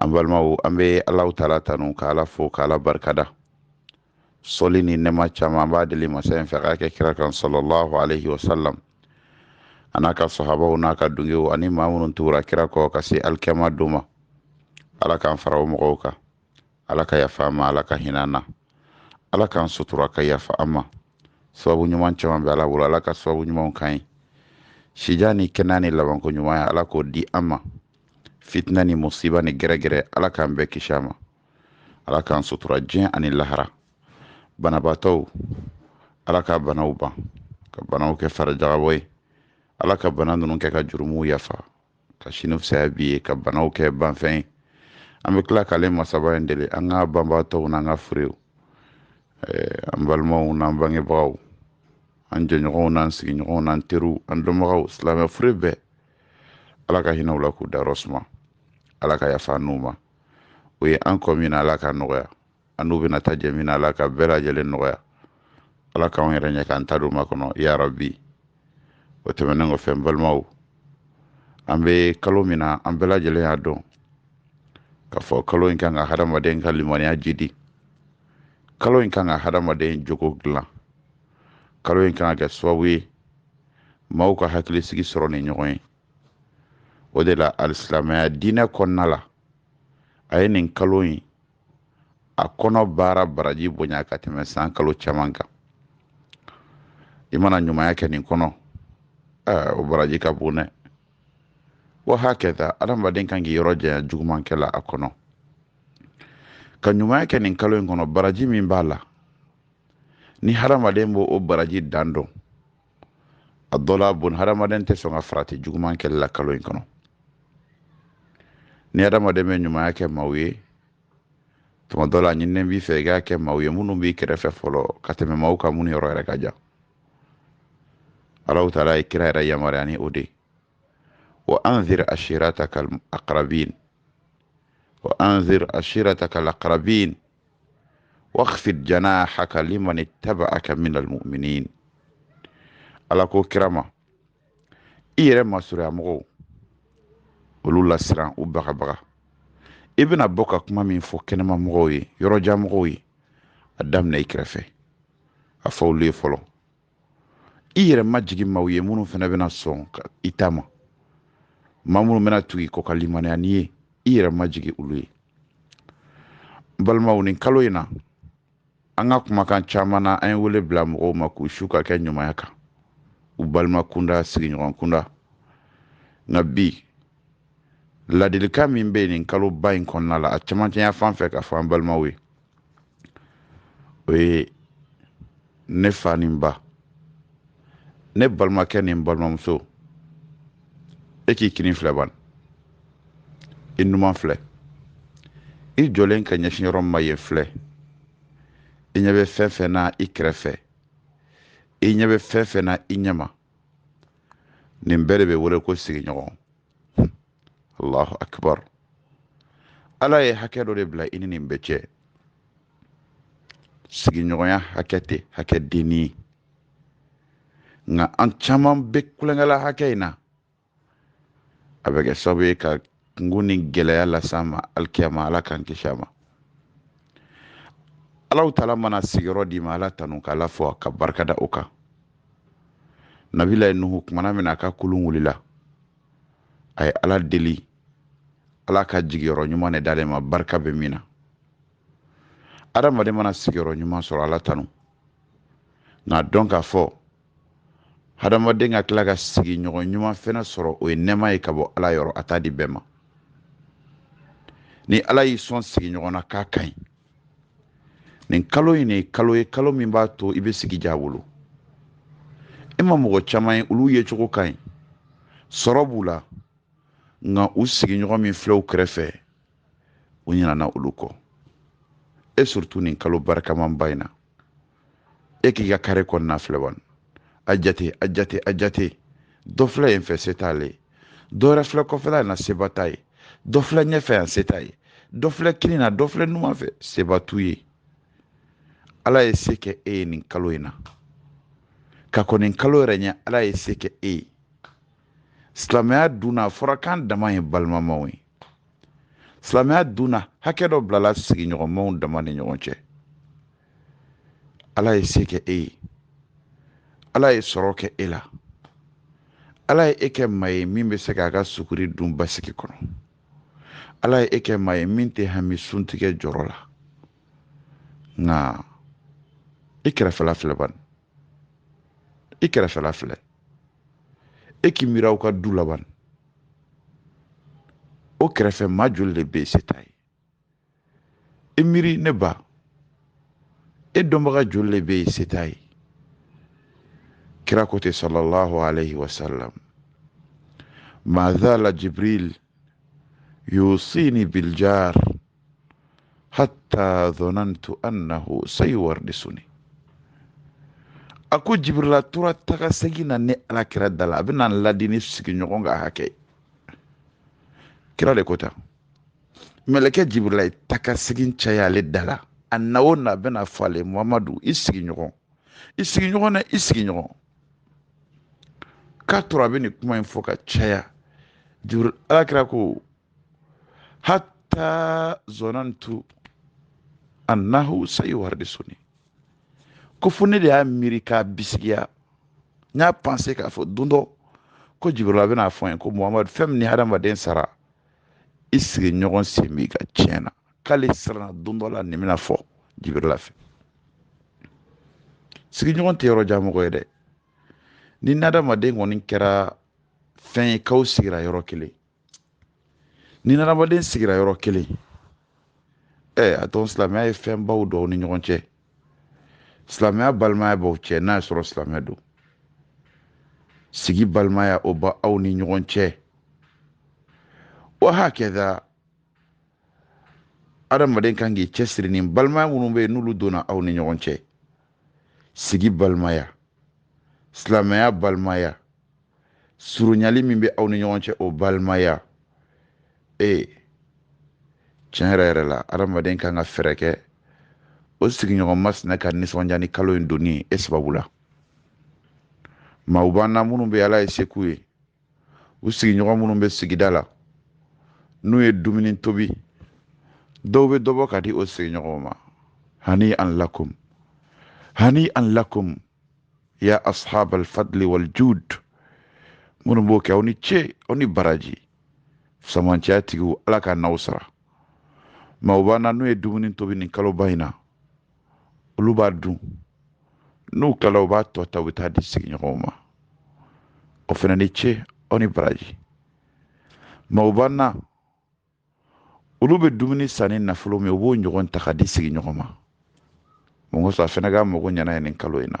an balimaw an bɛ alaw taala tanu ka ala fo ka ala barikada sɔli ni nɛma caman an b'a deli masa in fɛ k'a kɛ kira kan sɔlɔlahu alaihi wasalam a n'a ka sɔhabaw n'a ka dungew ani maa minnu tugura kira kɔ ka se alikɛma don ma ala k'an fara o mɔgɔw kan ala ka yafa an ma ala ka hinɛ an na ala k'an sutura ka yafa an ma sababu ɲuman caman bɛ ala bolo ala ka sababu ɲumanw k'an ye sijan ni kɛnɛya ni labanko ɲuman ye ala k'o di an ma fitina ni musiba ni gɛrɛgɛrɛ ala k'an bɛɛ kisi a ma ala k'an sutura diɲɛ ani lahara banabaatɔw ala ka banaw ban ka banaw kɛ farijagabɔ ye ala ka bana ninnu kɛ ka jurumuw yafa ka sini fisaya bi ye ka banaw kɛ banfɛn ye an bɛ tila k'ale masaba in deli an ka banbaatɔw n'an ka furew an balimaw n'an bangebagaw an jɛɲɔgɔnw n'an sigiɲɔgɔnw n'an teriw an dɔnbagaw silamɛ fure bɛɛ ala ka hinɛ u la k'u dayɔrɔ suma ala ka yafa n'u ma u ye an kɔn min na ala ka nɔgɔya an n'u bɛna taa jɛ min na ala k'a bɛɛ lajɛlen nɔgɔya ala k'an yɛrɛ ɲɛ k'an ta don makɔnɔ ya rabi o tɛmɛnen kɔfɛ n balimaw an bɛ kalo min na an bɛɛ lajɛlen y'a dɔn k'a fɔ kalo in kan ka hadamaden ka limaniya jidi kalo in kan ka hadamaden jogo dilan kalo in kan ka kɛ sababu ye maaw ka hakilisigi sɔrɔ ni ɲɔgɔn ye o de la alisilamɛya diinɛ kɔnɔna la a ye nin kalo in a kɔnɔ baara baraji bonya ka tɛmɛ san kalo caman kan i mana ɲumanya kɛ nin kɔnɔ o baraji ka bon dɛ wa hakɛta adamaden kan k'i yɔrɔ janya jugumankɛ la a kɔnɔ ka ɲumanya kɛ nin kalo in kɔnɔ baraji min b'a la ni hadamaden b'o o baraji dan dɔn a dɔ la bon hadamaden tɛ sɔn ka farati juguman kɛli la kalo in kɔnɔ ni hadamaden bɛ ɲumanya kɛ maaw ye tuma dɔ la ɲininen b'i fɛ i k'a kɛ maaw ye minnu b'i kɛrɛfɛ fɔlɔ ka tɛmɛ maaw kan minnu yɔrɔ yɛrɛ ka jan alaw taala ye kira yɛrɛ yamaruya ni o de ye wa anzir ashiratakal aqrabin wa anzir ashiratakal aqrabin waxfid janaahaka liman ittabaaka min almuminin ala ko kira ma i yɛrɛ masurunya mɔgɔw olu lasiran u bagabaga i bɛna bɔ ka kuma min fɔ kɛnɛma mɔgɔw ye yɔrɔjan mɔgɔw ye a daminɛ i kɛrɛfɛ a fɔ olu ye fɔlɔ i yɛrɛ majigi maaw ye minnu fana bɛna sɔn i ta ma maa minnu bɛna tugu i kɔ ka limaniya n'i ye i yɛrɛ majigi olu ye n balimaw nin kalo in na an ka kumakan caman na an ye wele bila mɔgɔw ma k'u su ka kɛ ɲumanya kan u balima kunda sigiɲɔgɔn kunda nka bi ladilikan min bɛ yen nin kaloba in kɔnɔna la a camancɛya fan fɛ k'a fɔ an balimaw ye o ye ne fa ni n ba ne balimakɛ ni n balimamuso e k'i kini filɛ ban i numan filɛ i jɔlen ka ɲɛsin yɔrɔ min ma yen filɛ i ɲɛ bɛ fɛn fɛn na i kɛrɛfɛ i ɲɛ bɛ fɛn fɛn na i ɲɛma nin bɛɛ de bɛ wele ko sigiɲɔgɔn allahu akbar ala ye hakɛ dɔ de bila i ni nin bɛɛ cɛ sigiɲɔgɔnya hakɛ tɛ hakɛ denni ye nka an caman bɛ tulonkɛ la hakɛ in na a bɛ kɛ sababu ye ka kunko ni gɛlɛya las'an ma alikiyama ala k'an kisi a ma allahu taala mana sigiyɔrɔ d'i ma ala tanu k'ala fo ka barikada o kan nabilayi nuhu kumana min na a ka kulun wulila a ye ala deli ala ka jigiyɔrɔ ɲuman de d'ale ma barika bɛ min na adamaden mana sigiyɔrɔ ɲuman sɔrɔ ala tanu nka dɔn k'a fɔ hadamaden ka tila ka sigiɲɔgɔn ɲuman fɛnɛ sɔrɔ o ye nɛɛma ye ka bɔ ala yɔrɔ a t'a di bɛɛ ma ni ala y'i sɔn sigiɲɔgɔn na k'a ka ɲi nin kalo in ye kalo ye kalo min b'a to i bɛ sigi ja bolo e ma mɔgɔ caman ye olu yecogo ka ɲi sɔrɔ b'u la nka u sigiɲɔgɔn min filɛ u kɛrɛfɛ u ɲinana olu kɔ et surtout nin kalo barikamanba in na e k'i ka kare kɔnɔna filɛ bani a jate a jate a jate dɔ filɛ yen fɛ se t'ale ye dɔ wɛrɛ filɛ kɔfɛla in na seba t'a ye dɔ filɛ ɲɛfɛ yan se t'a ye dɔ filɛ kini na dɔ filɛ numan fɛ seba t'u ye ala ye se kɛ e ye nin kalo in na ka kɔn nin kalo yɛrɛ ɲɛ ala ye se kɛ e ye silamɛya dun na a fɔra k'an dama ye balimamaw ye silamɛya dunna hakɛ dɔ bilala sigiɲɔgɔnmaw dama ni ɲɔgɔn cɛ ala ye se kɛ e ye ala ye sɔrɔ kɛ e la ala ye e kɛ maa ye min bɛ se k'a ka suguri dun basigi kɔnɔ ala ye e kɛ maa ye min tɛ hami suntigɛ jɔrɔ la nka i kɛrɛfɛla filɛ bani i kɛrɛfɛla filɛ e k'i miiri aw ka du la ban o kɛrɛfɛ maa joli de bɛ yen se t'a ye i miiri ne ba e dɔnbaga joli de bɛ yen se t'a ye kira ko ten sallallahu alayhi wa sallam ma zala jibril yuusiinii biljaar hattaa zonantu annahu sayuwardisuni a ko jibirila tora taga segin na ne ala kira da la a bɛna ladi ni sigiɲɔgɔn ka hakɛ kira de ko tan mɛlɛkɛ jibirila ye taga segin caya ale da la a na o na a bɛna fɔ ale muhamadu i sigiɲɔgɔn i sigiɲɔgɔn na i sigiɲɔgɔn k'a tora a bɛ nin kuma in fɔ ka caya jibiril ala kira ko hatta zonantu annahu sayuwardisuni ko fo ne de y'a miiri k'a bisigiya n y'a panse k'a fɔ don dɔ ko jibirila bɛn'a fɔ n ye ko muhamadu fɛn min ni hadamaden sara i sigiɲɔgɔn sen b'i ka tiɲɛ na k'ale siranna don dɔ la nin bɛna fɔ jibirila fɛ sigiɲɔgɔn tɛ yɔrɔ jan mɔgɔ ye dɛ ni hadamaden kɔni kɛra fɛn ye k'aw sigira yɔrɔ kelen ni hadamaden sigira yɔrɔ kelen ɛ a dɔn silamɛya ye fɛnbaw don aw ni ɲɔgɔn cɛ silamɛya balimaya b'aw cɛ n'a y'a sɔrɔ silamɛ don sigi balimaya o bɛ aw ni ɲɔgɔn cɛ wa hakaza adamaden kan k'i cɛsiri ni balimaya minnu bɛ yen n'olu donna aw ni ɲɔgɔn cɛ sigi balimaya silamɛya balimaya surunyali min bɛ aw ni ɲɔgɔn cɛ o balimaya ee tiɲɛ yɛrɛ yɛrɛ la adamaden kan ka fɛɛrɛ kɛ o sigiɲɔgɔn masina ka nisɔndiya ni kalo in donni e sababu la maaw b'an na minnu bɛ ala ye se k'u ye u sigiɲɔgɔn minnu bɛ sigida la n'u ye dumuni tobi dɔw bɛ dɔ bɔ ka di o sigiɲɔgɔnw ma hanian lakum hanian lakum ya ashab alfadli waljud minnu b'o kɛ aw ni ce aw ni baraji fisamancɛya tigiw ala ka n'aw sara maaw b'an na n'u ye dumuni tobi nin kaloba in na olu b'a dun n'u tilala u b'a tɔ ta u bɛ taa di sigiɲɔgɔnw ma aw fana ni ce aw ni baraji maaw b'an na olu bɛ dumuni san ni nafolo min ye u b'o ɲɔgɔn ta ka di sigiɲɔgɔn ma mun kosɔn a fana k'a mago ɲɛ n'a ye nin kalo in na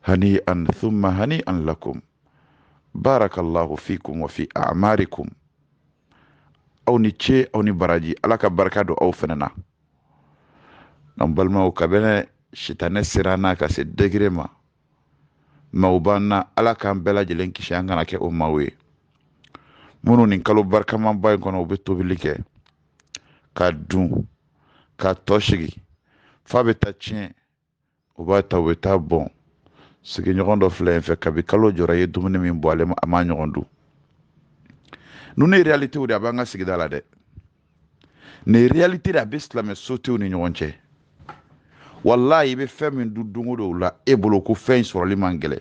hanian thumma hanian lakum barakallahu fikum wa fi a'marikum aw ni ce aw ni baraji ala ka barika don aw fana na an balimaw kabini sitanɛ ser'an na ka se degré ma maaw b'an na ala k'an bɛɛ lajɛlen kisi an kana kɛ o maaw ye minnu nin kalo barikamanba in kɔnɔ u bɛ tobili kɛ ka dun k'a tɔ sigi f'a bɛ taa tiɲɛ u b'a ta u bɛ taa bɔn sigiɲɔgɔn dɔ filɛ i fɛ kabi kalo jɔra i ye dumuni min bɔn ale a m'a ɲɔgɔn dun ninnu ye réalitéw de a b'an ka sigida la dɛ nin réalité de a bɛ silamɛ sotew ni ɲɔgɔn cɛ walayi i bɛ fɛn min dun don o don la e bolo ko fɛn in sɔrɔli man gɛlɛn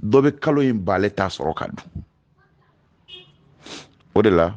dɔ bɛ kalo in ban ale t'a sɔrɔ ka dun o de la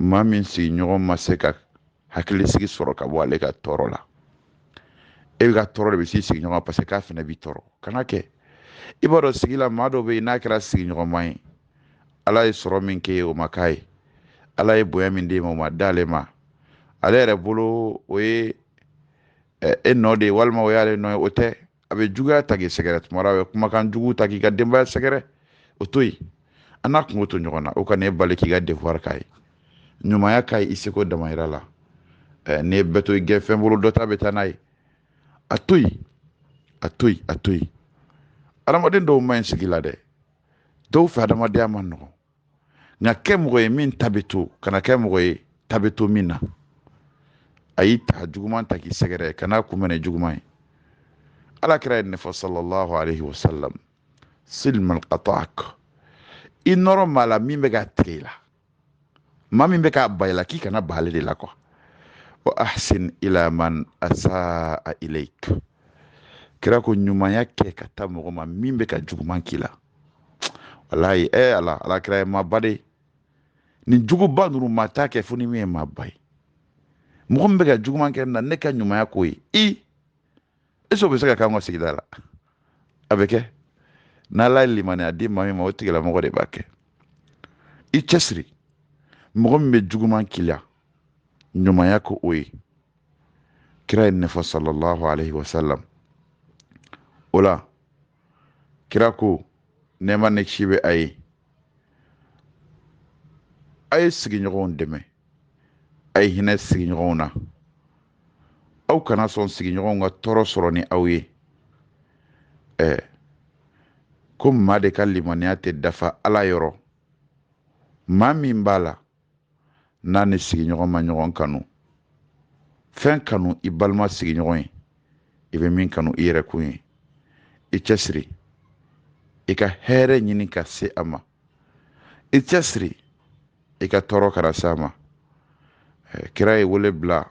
maa min sigiɲɔgɔn ma se ka hakilisigi sɔrɔ ka bɔ ale ka tɔɔrɔ la e bɛ ka tɔɔrɔ de bɛ s'i sigiɲɔgɔn ma parce que k'a fana b'i tɔɔrɔ kana kɛ i b'a dɔn sigi la maa dɔ bɛ yen n'a kɛra sigiɲɔgɔnma ye ala ye sɔrɔ min k'e ye o ma k'a ye ala ye bonya min d'e ma o ma d'ale ma ale yɛrɛ bolo o ye e nɔ de ye walima o y'ale nɔ ye o tɛ a bɛ juguya ta k'i sɛgɛrɛ tuma dɔ a bɛ kumakan jugu ta k'i ka denbaya sɛgɛrɛ o to yen a n'a kunko to ɲɔgɔn na o kana e bali k'i ka devoir k'a ye ɲumanya k'a ye i seko damayira la eh, n'i ye bɛɛ to i gɛnfɛn bolo dɔ ta bɛ taa n'a ye a to yen a to yen a to yen adamaden dɔw man ɲi sigi la dɛ dɔw fɛ adamadenya man nɔgɔn nka kɛ mɔgɔ ye min ta bɛ to kana kɛ mɔgɔ ye ta bɛ to min na a y'i ta juguman ta k'i sɛgɛrɛ kan'a kunbɛn ni juguman ye ala kira ye nin fɔ sallallahu alaihi wa sallam sil man qata'ak i nɔrɔ maa la min bɛ k'a tigɛ i la maa min bɛ k'a ban i la k'i kana ban ale de la ko wa ahsin ila man asaa ilayk kira ko ɲumanya kɛ ka taa mɔgɔ ma min bɛ ka juguman k'i la walayi e ala ala kira ye maaba de nin jogoba ninnu maa t'a kɛ fo ni min ye maaba ye mɔgɔ min bɛ ka juguman kɛ n na ne ka ɲumanya k'o ye est-ce o bɛ se ka k'an ka sigida la a bɛ kɛ n'ala ye limaniya di maa min ma o tigilamɔgɔ de b'a kɛ i cɛsiri mɔgɔ min bɛ juguman k'i la ɲumanya k'o ye kira ye nin fɔ sallallahu alaihi wasallam o la kira ko nɛɛma ni kisi bɛ a ye a ye sigiɲɔgɔnw dɛmɛ a ye hinɛ sigiɲɔgɔnw na aw kana sɔn sigiɲɔgɔnw ka tɔɔrɔ sɔrɔ ni aw ye ɛɛ ko maa de ka limaniya tɛ dafa ala yɔrɔ maa min b'a la n'a ni sigiɲɔgɔn ma ɲɔgɔn kanu fɛn kanu i balima sigiɲɔgɔn ye i bɛ min kanu i yɛrɛ kun ye i cɛsiri i ka hɛrɛ ɲini ka se a ma i cɛsiri i ka tɔɔrɔ kana se a ma kira ye wele bila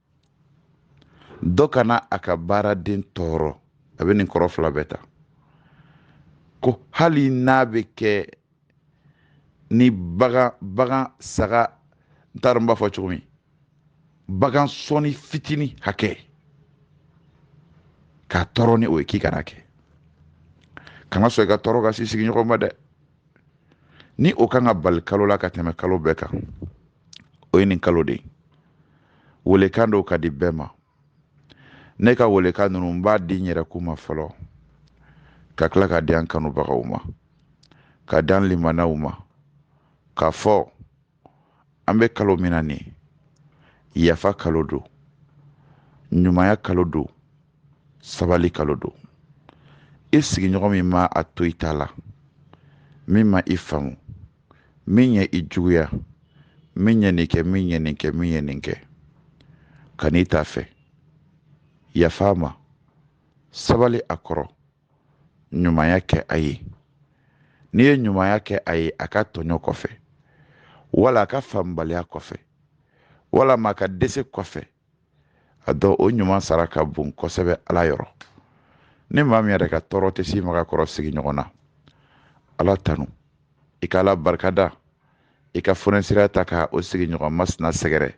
dɔ kana a ka baaraden tɔɔrɔ a bɛ nin kɔrɔ fila bɛɛ ta ko hali n'a bɛ kɛ ni bagan bagan saga n t'a dɔn n b'a fɔ cogo min bagan sɔnin fitinin hakɛ k'a tɔɔrɔ ni o ye k'i kana kɛ kana sɔn i ka tɔɔrɔ ka s'i sigiɲɔgɔn ma dɛ ni o kan ka bali kalo la ka tɛmɛ kalo bɛɛ kan o ye nin kalo de ye weelekan dɔw k'a di bɛɛ ma ne ka weelekan ninnu n b'a di n yɛrɛkun ma fɔlɔ ka tila k'a di an kanubagaw ma k'a di an limanaw ma k'a fɔ an bɛ kalo min na nin yafa kalo don ɲumanya kalo don sabali kalo don i sigiɲɔgɔn min ma a to i ta la min ma i faamu min ye i juguya min ye nin kɛ min ye nin kɛ min ye nin kɛ ka n'i ta fɛ yafa a ma sabali a kɔrɔ ɲumanya kɛ a ye n'i ye ɲumanya kɛ a ye a ka tɔɲɔ kɔfɛ wala a ka faamubaliya kɔfɛ walama a ka dɛsɛ kɔfɛ a dɔn o ɲuman sara ka bon kosɛbɛ ala yɔrɔ ni maa min yɛrɛ ka tɔɔrɔ tɛ s'i ma ka kɔrɔ sigiɲɔgɔn na ala tanu i ka ala barikada i ka fonisireya ta ka o sigiɲɔgɔn masina sɛgɛrɛ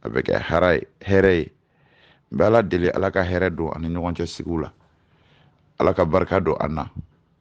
a bɛ kɛ hara ye hɛrɛ ye n bɛ ala deli ala ka hɛrɛ don an ni ɲɔgɔn cɛ sigiw la ala ka barika don an na